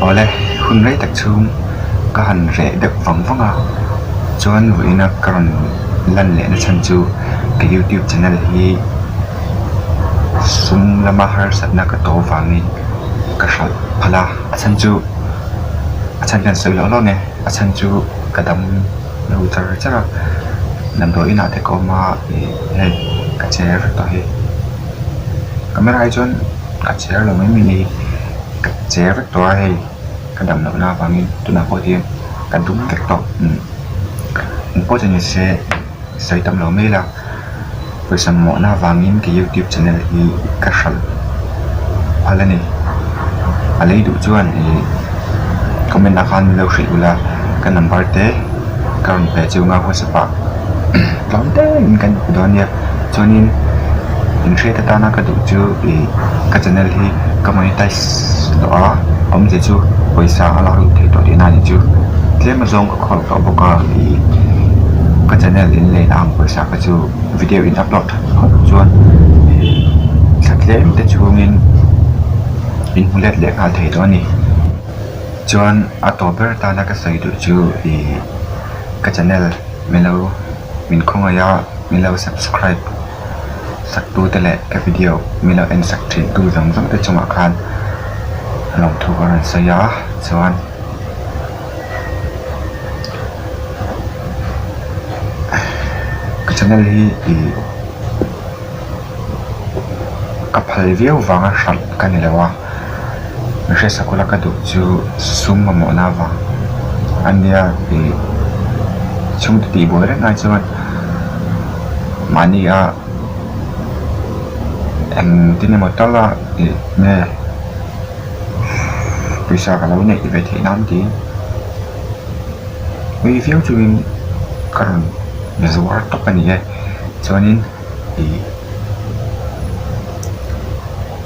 Awle hun rei tak chhung ka han reh deuh vang vang a chuan ruihna ka rawn lan leh na chhan chu ka youtube channel hi sum lama harsat na ka to vangin ka hralh phalh a a chhan chu a chhan hian sawi hlawh hlawh nge a chhan chu ka dam-- lo char char a lam tawh inah te ka awm a ih hei ka chair tawh hi camera hi chuan ka chair lo mai mai ni ka chair vek tawh a hei ka dam loh na avangin tunah pawh hian ka dum vek tawh ih important ih se sawi tam lo mai ila. Pawisa mawhna vangin ka youtube channel hi ka hralh a la ni. A lei duh chuan ih comment ah khan min lo hrilh ula ka number te ka rawn pe chu nga whatsapp ah tlawm te in kan pe dawn nia. Chuanin in hriat atana ka duh chu ih ka channel hi ka monetize-- a awmzia chu pawisa a lak leh theih tawh tihna a nih chu tlem azawng ka khawl tawh bawk a ih ka channel in lei na ang pawisa kha chu video in upload tha phawt chuan ih thla tlem te chhungin in hmu let leh nghal thei tawh a ni chuan a tawh ber tana ka sawi duh chu ih ka channel milo min khawngaih a milo subscribe . saktute leh ka video milo en sak thin tu zawng zawng te chungah khan lawmthuk a rawn sawi a chuan ka channel hi ih ka phal viau vang a hrat ka ni lo a. Ka hre sakawlh a ka duh chu sum mamawhna avang a nia tih chhungte tih buai reng ai chuan mahnia eng tin emaw tal a tih nge pawisa ka lo neih ve theih nan tiin nui viau chungin ka rawn zuar tawp a ni e chuanin ih--